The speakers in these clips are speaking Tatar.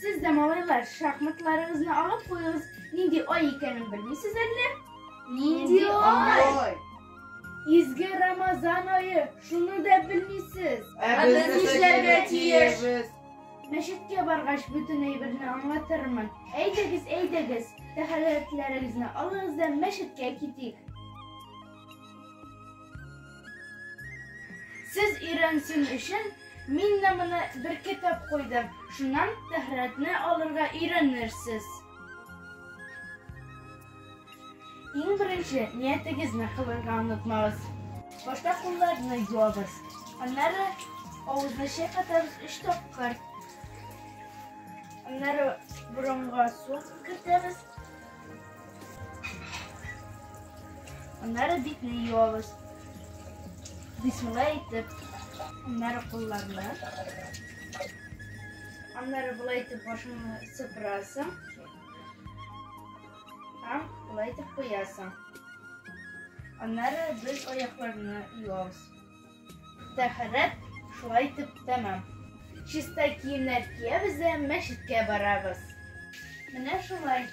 Сез дә, малайлар, шахматларыгызны алып куегыз. Нинди ай икәнен белмисез әллә? Нинди ай? Изге Рамазан айы, шуны да белмисез. Ә без нишләргә тиешбез? Мәчеткә баргач, бөтен әйберне аңлатырмын. Әйдәгез, әйдәгез, тәһарәтләрегезне алыгыз да мәчеткә китик. Сез өйрәнсен өчен, мин дә моны беркетеп куйдым, шуннан тәһарәтне алырга өйрәнерсез. Иң беренче ниятегезне кылырга онытмагыз. Башта кулларны юабыз, аннары авызны чайкатабыз өч тапкыр. Аннары борынга су кертәбез. Аннары битне юабыз. Бисмилла әйтеп. Аннары кулларны. Аннары болай итеп башыңны сыпырасың. Һәм болай итеп куясың. Аннары без аякларны юабыз. Тәһарәт шулай итеп тәмам. Чиста киемнәр киябез дә мәчеткә барабыз. Менә шулай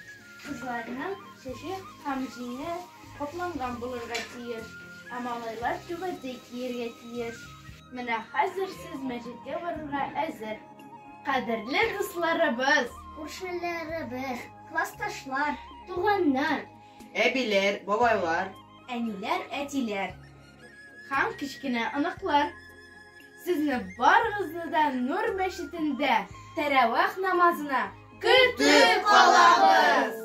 кызларның чәче һәм җиңе капланган булырга тиеш, ә малайлар түбәтәй киергә тиеш. Менә хәзер сез мәчеткә барырга әзер. Кадерле дусларыбыз! Күршеләребез, классташлар, туганнар. Әбиләр, бабайлар. Әниләр, әтиләр. Һәм кечкенә оныклар. Сезне барыгызны да Нур мәчетендә тәрәвәх намазына көтеп калабыз!